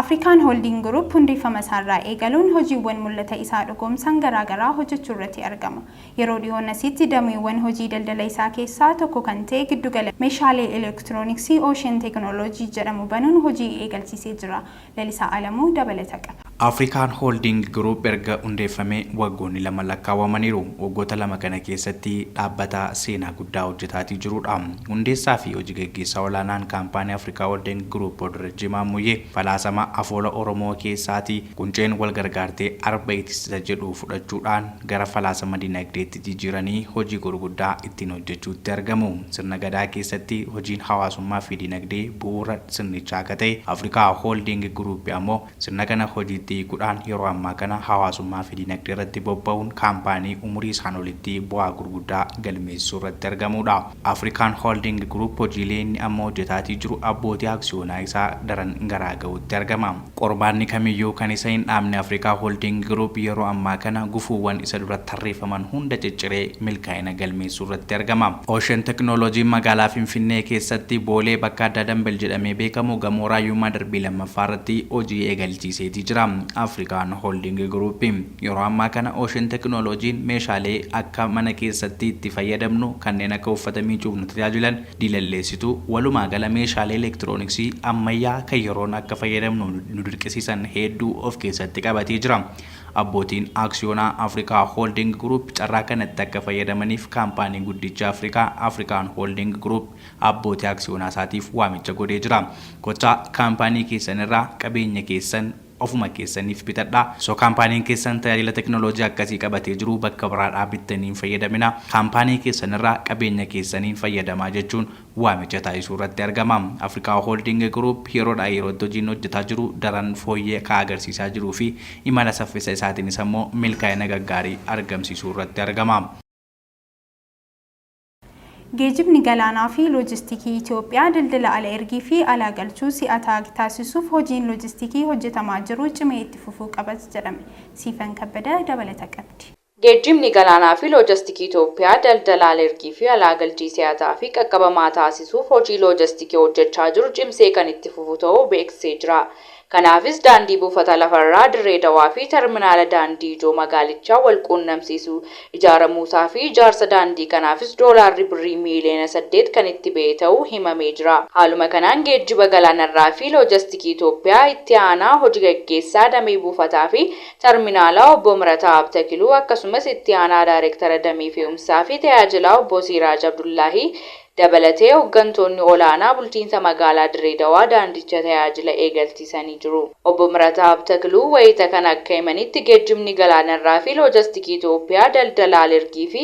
Afrikaan Holding Group hundeeffama isaarraa eegaluun hojiiwwan mul'ata isaa dhugoomsan garaa garaa hojjechuurratti argama. Yeroo dhihoon asitti dameewwan hojii daldala isaa keessaa tokko kan ta'e giddugala meeshaalee elektirooniksii Ocean Technology jedhamu banuun hojii eegalchiisee jira. Lalisaa Alamuu dabalata qaba. Afrikaan Hooldiingi Giruup erga hundeeffamee waggoonni lama lakkaawamaniiru. Waggoota lama kana keessatti dhaabbata seenaa guddaa hojjetaatii jiruudha. Hundeessaa fi hoji gaggeessaa olaanaan kaampaanii Afrikaa Hooldiingi Giruup Booddarajjii Maammuyyee falaasama afoola Oromoo keessaatii qunceen wal gargaartee arba itistisa jedhu fudhachuudhaan gara falaasama dinagdeetti jijiiranii hojii gurguddaa ittiin hojjechuutti argamu. Sirna Gadaa keessatti hojiin hawaasummaa fi dinagdee bu'uura sirnichaa akka ta'e Afrikaa Hooldiingi Giruupi ammoo Sirna kana hojiitti hiikuudhaan yeroo ammaa kana hawaasummaafi dinagdeerratti bobba'uun kaampaanii umurii isaan olitti bu'aa gurguddaa galmeessisuurratti argamuudha. Afrikaan Holding Group hojiilee inni amma hojjetaatii jiru abbootii aksiyoonaa isaa daran garaa ga'uutti argama. Qormaanni kamiyyuu kan isa hin dhaabne Afrikaa Holding Group yeroo ammaa kana gufuuwwan isa dura tarreeffaman hunda cicciree milkaa'ina galmeessuurratti argama. Ocean Technology magaalaa Finfinnee keessatti Boolee bakka addaa Dambel jedhamee beekamu gamoo Raayyummaa darbii 2ffaa irratti hojii eegalchiiseetii jira Afrikaan Holding Group. Yeroo ammaa kana Ocean Technology'n meeshaalee akka mana keessatti itti fayyadamnu kanneen akka uffata miicuuf nu tajaajilan, diilalleessitu, walumaa gala meeshaalee elektirooniksii ammayyaa kan yeroon akka fayyadamnu nu dirqisiisan heedduu of keessatti qabatee jira. Abbootiin Aksiyoonaa Africa Holding Group carraa kanatti akka fayyadamaniif Kaampaanii Guddicha Afrikaa, African Holding Group, Abbootii Aksiyoonaa isaatiif waamicha godhee jira. Kottaa Kaampaanii keessan irraa qabeenya keessan ofuma keessaniif bitadhaa. Osoo Kaampaaniin keessan tajaajila teknoloojii akkasii qabatee jiruu bakka biraadhaa bittanii hin fayyadaminaa. Kaampaanii keessan irraa qabeenya keessaniin fayyadamaa jechuun waamicha taasisuu irratti argama. Africa Holding Group yeroodhaa yerootti hojiin hojjetaa jiru daran fooyyee ka agarsiisaa jiruu fi imala saffisa isaatiinis ammoo milkaa'ina gaggaarii argamsiisuu irratti argama. Geejibni galaanaa fi loojistikii Itiyoophiyaa daldala ala ergii fi alaa galchuu si'ataa ag taasisuuf hojiin loojistikii hojjetamaa jiru cimee itti fufuu qabas jedhame. Siifan Kabbada dabalata qabdi. Geejjibni galaanaa fi loojastikii Itoophiyaa daldala alergii fi alaa galchii si'ataa fi qaqqabamaa taasisuuf hojii loojastikii hojjechaa jiru cimsee kan itti fufu ta'uu beeksisee jira. Kanaafis daandii buufata lafa irraa Dirree Dawaa fi terminaala daandii ijoo magaalichaa wal quunnamsiisu ijaaramuusaa fi ijaarsa daandii kanaafis doolaarri birrii miiliyoona 8 kan itti ba'e ta'uu himamee jira. Haaluma kanaan geejjiba galaanarraa fi loojastikii Itoophiyaa itti aanaa hoji gaggeessaa damee buufataa fi Tarminaalaa Obbo Mirataa Abtakiluu akkasumas Itti Aanaa Daarektara Damee Fe'umsaa fi Tajaajilaa Obbo Siiraaj Abdullaahii dabalatee hoggantoonni olaanaa bulchiinsa magaalaa Dirree Dawaa daandicha tajaajila eegalchiisanii jiru. Obbo Mirataa Abtakiluu wayita kana akka himanitti geejjibni galaanarraa fi loojastikii Itoophiyaa daldala al-ergii fi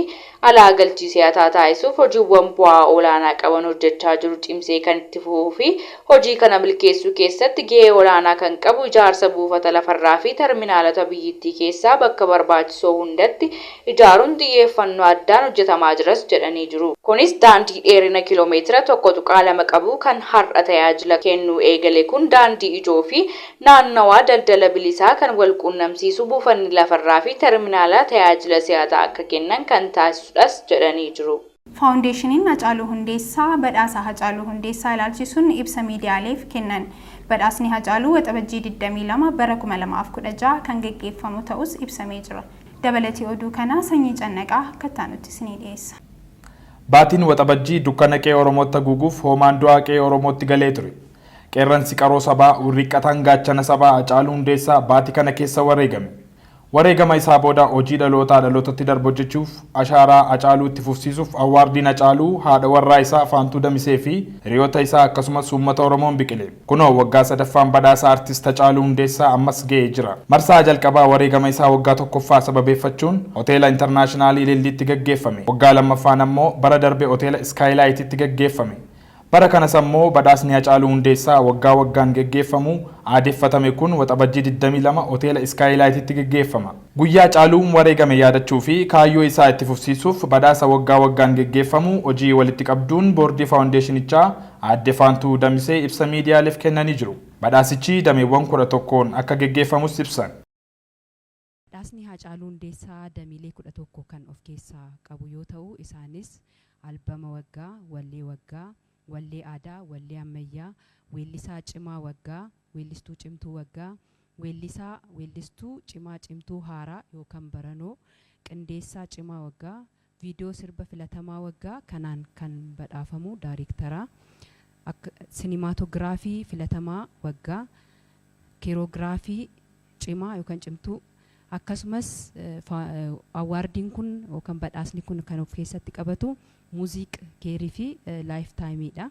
alaa galchii si'ataa taasisuuf hojiiwwan bu'aa olaanaa qaban hojjechaa jiru cimsee kan itti fufuu fi hojii kana milkeessuu keessatti gahee olaanaa kan qabu ijaarsa buufata lafarraa fi tarminaalota biyyittii keessaa bakka barbaachisoo hundatti ijaaruun xiyyeeffannoo addaan hojjetamaa jiras jedhanii jiru. Kunis daandii dheerina kiiloomeetira 1.2 qabu kan har'a tajaajila kennuu eegale kun daandii ijoo fi Naannawaa daldala bilisaa kan walquunnamsiisu buufanni lafarraa fi terminaalaa tajaajila si'ataa akka kennan kan taasisudhas jedhanii jiru. Faawundeeshiniin Hacaaluu Hundeessaa badhaasa Hacaaluu Hundeessaa ilaalchisuun ibsa miidiyaaleef kennan. Badhaasni Hacaaluu Waxabajjii 22 bara 2016 kan gaggeeffamu ta'us ibsamee jira. Dabalati oduu kanaa Sanyii Cannaqaa akka ittaanutti isinii dhiyeessa. Baatiin Waxabajjii dukkana qe'ee Oromootti haguuguuf hoomaan du'aa qe'ee Oromootti galee ture. Qeerransi qaroo sabaa, wirriqqataan gaachana sabaa Hacaaluu Hundeessaa baati kana keessa wareegame. Wareegama isaa booda hojii dhalootaa dhalootatti darbu hojjechuuf, ashaaraa Hacaaluu itti fufsiisuuf Awwaardiin Hacaaluu haadha warraa isaa Faantuu Damisee fi hiriyoota isaa akkasumas uummata Oromoon biqile. Kunoo waggaa sadaffaan badhaasa Artist Hacaaluu Hundeessaa ammas ga'ee jira. Marsaa jalqabaa wareegama isaa waggaa tokkoffaa sababeeffachuun Hoteela Internaashinaalii Ililliitti gaggeeffame. Waggaa lammaffaan ammoo bara darbe Hoteela Iskaayilaayititti gaggeeffame. Bara kanas ammoo badhaasni Hacaaluu Hundeessaa waggaa waggaan geggeeffamu aadeffatame kun Waxabajjii 22 Hoteela Iskaayilaayititti geggeeffama. Guyyaa Hacaaluun wareegame yaadachuu fi kaayyoo isaa itti fufsiisuuf badhaasa waggaa waggaan geggeeffamu hojii walitti qabduun boordii faawundeeshinichaa Aadde Faantuu Damisee ibsa miidiyaaleef kennanii jiru. Badhaasichi dameewwan 11n akka geggeeffamus ibsan. Dhaasni Haacaaluu Hundeessaa damiilee 11 kan of keessaa qabu yoo ta'u isaanis, Albama Waggaa, Wallee Waggaa, Wallee Aadaa, Wallee Ammayyaa, Weellisaa Cimaa Waggaa, Weellistuu Cimtuu Waggaa, Weellisaa, Weellistuu, Cimaa Cimtuu Haaraa yookan Baranoo, Qindeessaa Cimaa Waggaa, Viidiyoo sirba filatamaa waggaa kanaan kan badhaafamu daayreektara, Akka, sinimaatoogiraafii filatamaa waggaa, Keeroogiraafii cimaa yookan cimtuu, akkasumas fa, Awwaardiin kun yookan badhaasni kun kan of keessatti qabatu Muuziiq Keeriifi Laayif Taayimiidha.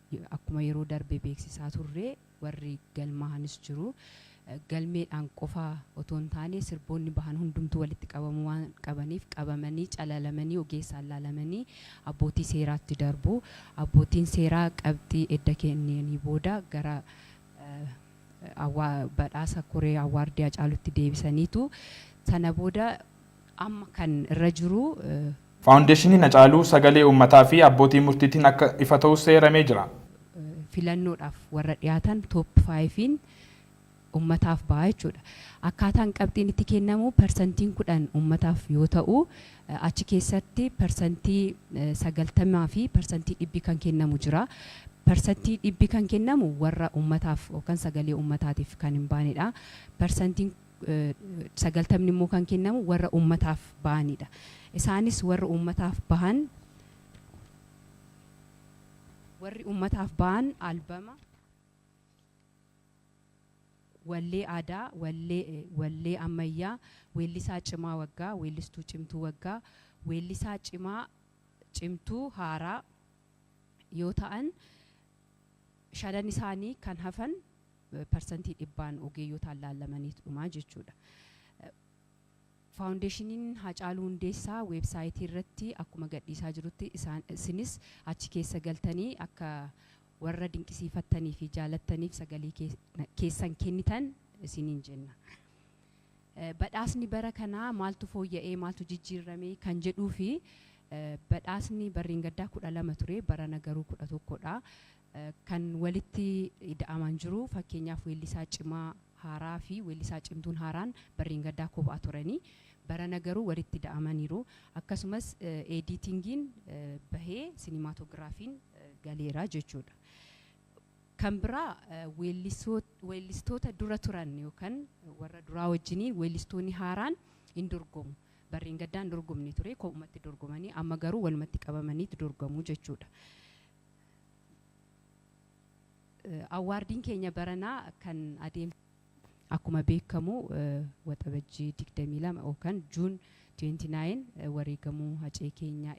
Akkuma yeroo darbe beeksisaa turre warri galmaahanis jiru. Galmeedhaan qofa otoo hin taane sirboonni bahan hundumtuu walitti qabamuu waan qabaniif qabamanii calalamanii ogeessaan laalamanii abbootii seeraatti darbu. Abbootiin seeraa qabxii edda kennanii booda gara badhaasa koree awwaardii Hacaaluutti deebisaniitu. Sana booda amma kan irra jiru. Faawundeeshiniin Hacaaluu sagalee uummataa fi abbootii murtiitiin akka ifa ta'us eeramee jira. filannoodhaaf warra dhiyaatan top five'n uummataaf ba'a jechuudha. Akkaataan qabxiin itti kennamu parsantiin 10 uummataaf yoo ta'u, achi keessatti parsantii 90 fi parsantii dhibbi kan kennamu jira. Parsantii dhibbi kan kennamu warra uummataaf yookan sagalee uummataatiif kan hin baanedha. Parsantiin 90 immoo kan kennamu warra uummataaf bahaniidha. Isaanis warra uummataaf bahan warri uummataaf bahan albama, wallee aadaa, wallee ammayyaa, weellisaa cimaa waggaa, weellistuu cimtuu waggaa, weellisaa cimaa, cimtuu, haaraa yoo ta'an shanan isaanii kan hafan parsantii dhibbaan ogeeyyotaan laallamaniit dhumaa jechuudha. Faawundeeshiniin Haacaaluu Hundeessaa weebsaayitii irratti akkuma gadhiisaa jirutti isaan isinis achi keessa galtanii akka warra dinqisiifattanii fi jaalattaniif sagalee keessan kennitan isiniin jenna. Badhaasni bara kanaa maaltu fooyya'ee maaltu jijjiirrame kan jedhuu fi badhaasni barreen gaddaa 12 ture barana garuu 11 dha. kan walitti ida'aman jiru. Fakkeenyaaf weellisaa cimaa haaraa fi weellisaa cimtuun haaraan barreengaddaa kophaa turani. Barana garuu walitti ida'amaniiru. Akkasumas eediitingiin bahee sinimaatogiraafiin galeera jechuudha. Kan biraa weellistoota dura turan yookan warra duraa wajjinii weellistoonni haaraan hin dorgomu. Barreengaddaa hin dorgomne ture kophumatti dorgomanii amma garuu walumatti qabamaniit dorgomu jechuudha. Awwaardiin keenya baranaa kan adeemsifamu akkuma beekamu Waxabajjii 22 yookaan June 29 wareegamuu Hacee keenya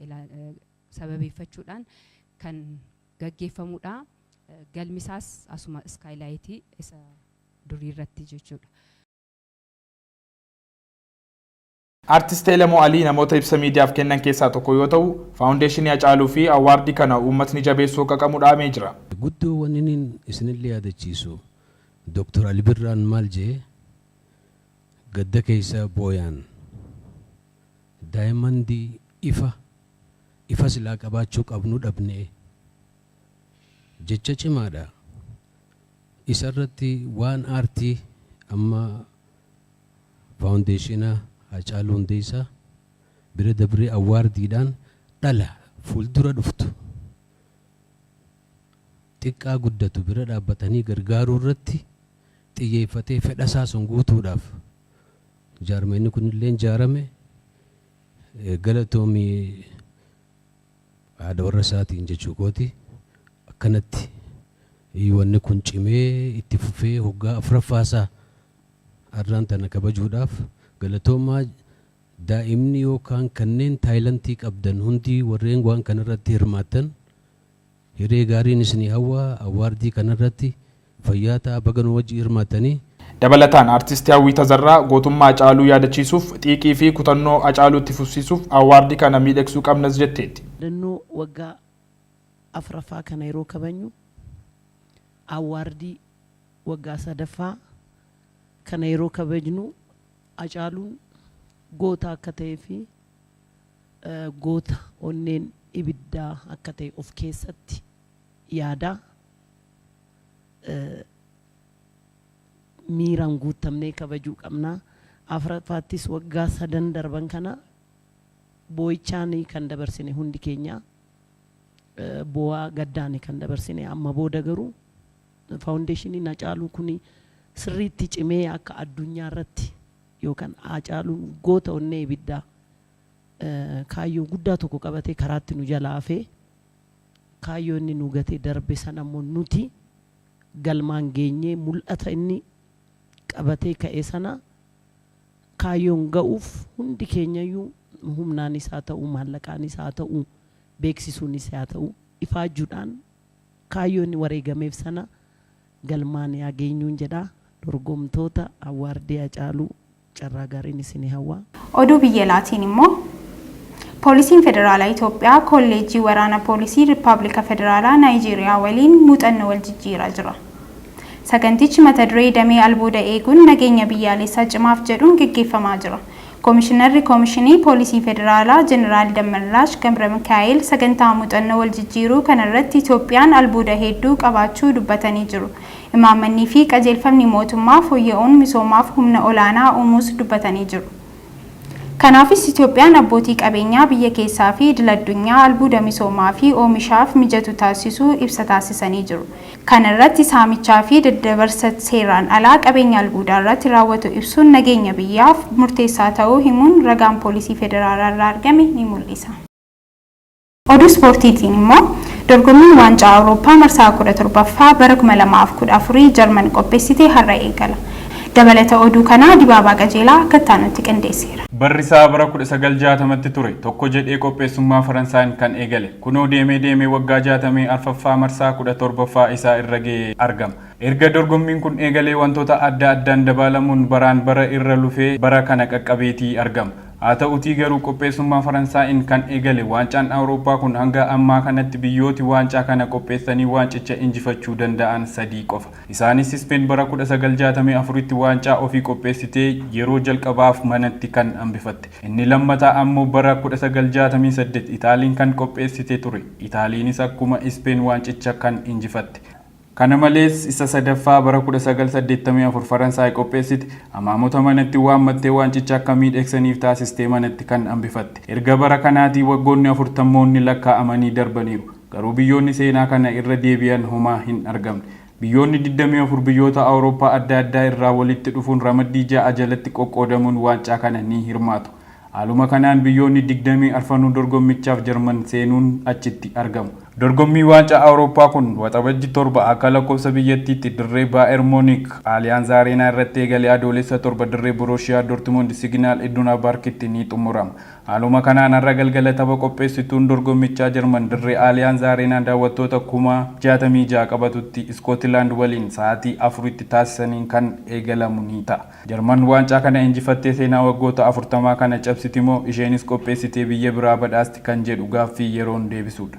sababeeffachuudhaan kan gaggeeffamudha. Galmi isaas asuma Skylight isa durii irratti jechuudha. Artist Elemoo Alii namoota ibsa miidiyaaf kennan keessaa tokko yoo ta'u, Faawundeeshinii Hacaaluu fi Awwaardii kana uummatni jabeessuu akka qamu dhaamee jira. Guddoo waninin isinillee yaadachiisu Doktar Ali Birraan maal je'e gadda keessa booyaan daayamandii ifa ifa silaa qabaachuu qabnu dhabne jecha cimaadha. Isarratti waan aartii amma. Faawundeeshina Haacaaluu Hundeessaa bira dabree Awwaardiidhaan dhala fuuldura dhuftu, xiqqaa guddatu bira dhaabbatanii gargaaruu irratti xiyyeeffatee fedha isaa sun guutuudhaaf jaarmayni kun illeen jaarame. Galatoomi! haadha warra isaatiin jechuu kooti akkanatti wanni kun cimee itti fufee hoggaa afraffaa isaa arraan tana kabajuudhaaf galatoomaa daa'imni yookaan kanneen taayilantii qabdan hundii warreen waan kanarratti hirmaattan Hiree gaariin isinii hawwa awwaardii kanarratti fayyaa ta'a baga nu wajji hirmaattanii. Dabalataan Artisti Hawwii Tazarraa gootummaa Hacaaluu yaadachiisuuf xiiqii fi kutannoo Hacaaluu itti fufsiisuuf awwaardii kana miidhagsuu qabnas jetteetti. Yaadannoo waggaa 4ffaa kana yeroo kabajnu awwaardii waggaa 3ffaa kana yeroo kabajnu Hacaaluun goota akka ta'ee fi goota onneen ibiddaa akka ta'e of keessatti yaada. Miiraan guuttamnee kabajuu qabna. Afraffaattis waggaa sadan darban kana boo'ichaan kan dabarsine hundi keenya. Boo'aa gaddaan kan dabarsine amma booda garuu faawundeeshiniin Hacaaluu kun sirriitti cimee akka addunyaa irratti yookaan Haacaaluun goota onnee ibiddaa kaayyoo guddaa tokko qabatee karaatti nu jalaa hafee kaayyoo inni nu gatee darbe sana immoo nuti galmaan geenyee mul'ata inni qabatee ka'e sana kaayyoon ga'uuf hundi keenyayyuu humnaanis haa ta'u maallaqaanis haa ta'u beeksisuunis haa ta'u ifaajjuudhaan Kaayyoo inni wareegameef sana galmaan yaa geenyuun jedha. Dorgomtoota Awwaardii Hacaaluu carraa gaariin isinii hawwa. Oduu biyya alaatiin immoo Poolisiin Federaalaa Itoophiyaa Kolleejjii Waraana Poolisii Rippaablika Federaalaa Naayijeeriyaa waliin muuxannoo wal jijjiiraa jira. Sagantichi mata duree Damee Albuuda Eeguun Nageenya Biyyaalessaa Cimaaf jedhuun geggeeffamaa jira. Komishinarri Komishinii Poolisii Federaalaa Jeneraal Dammallaash Gabramikaa'eel sagantaa muuxannoo wal jijjiiruu kanarratti Itoophiyaan albuuda hedduu qabaachuu dubbatanii jiru. Imaammannii fi qajeelfamni mootummaa fooyya'uun misoomaaf humna olaanaa uumuus dubbatanii jiru. Kanaafis Itoophiyaan abbootii qabeenyaa biyya keessaa fi idil-addunyaa albuuda misoomaa fi oomishaaf mijatu taasisuu ibsa taasisanii jiru. Kana irratti saamichaa fi daddabarsa seeraan alaa qabeenya albuudaa irratti raawwatu ibsuun nageenya biyyaaf murteessaa ta'uu himuun ragaan Poolisii Federaalaa irraa argame ni mul'isa. Oduu ispoortiitiin immoo Dorgommiin Waancaa Awurooppaa marsaa 17ffaa bara 2014 Jarman qophessite har'a eegala. Dabalata oduu kanaa Dibaabaa Qajeelaa akka itti aanutti qindeesseera. Barri isaa bara 1960tti ture. Tokko jedhee qopheessummaa Faransaayiin kan eegale. Kunoo deemee deemee waggaa 64ffaa marsaa 17ffaa isaa irra ga'ee argama. Erga dorgommiin kun eegalee wantoota adda addaan dabaalamuun baraan bara irra lufee bara kana qaqqabeetii argama. Haa ta'utii garuu qopheessummaa Faransaayiin kan eegale waancaan Awurooppaa kun hanga ammaa kanatti biyyooti waancaa kana qopheessanii waancicha injifachuu danda'an sadii qofa. Isaanis Ispeen bara 1964tti waancaa ofii qopheessitee yeroo jalqabaaf manatti kan hambifatte. Inni lammataa ammoo bara 1968 Itaaliin kan qopheessite ture. Itaaliinis akkuma Ispeen waancicha kan injifatte. Kana malees isa sadaffaa bara 1984 Faransaay qopheessite. Amaamota manatti waammattee waancicha akka miidhegsaniif taasistee manatti kan hambifatte. Erga bara kanaatii waggoonni afurtammoonni lakkaa'amanii darbaniiru. Garuu biyyoonni seenaa kana irra deebi'an homaa hin argamne. Biyyoonni 24 biyyoota Awurooppaa adda addaa irraa walitti dhufuun ramaddii 6 jalatti qoqqoodamuun waancaa kana ni hirmaatu. Haaluma kanaan biyyoonni 20 arfanuu dorgommichaaf Jarman seenuun achitti argamu. Dorgommiin Waancaa Awurooppaa kun Waxabajji 7 akka lakkoofsa biyyattiitti dirree Baayer Muunik Aliyaanz Areenaa irratti eegalee Adoolessa 7 dirree Boroshiyaa Dortmund Siginaal Iduna Baarkitti ni xumurama. Haaluma kanaan har'a galgala tapha qopheessituun dorgommichaa Jarman dirree Aaliyaanz Areenaa daawwattoota kuma 66 qabatutti Iskootilaand waliin sa'aatii 4tti taasisaniin kan eegalamu ni ta'a. Jarman waancaa kana injifattee seenaa waggoota 40 kana cabsiti moo isheenis qopheessitee biyya biraa badhaasti kan jedhu gaaffii yeroon deebisuudha.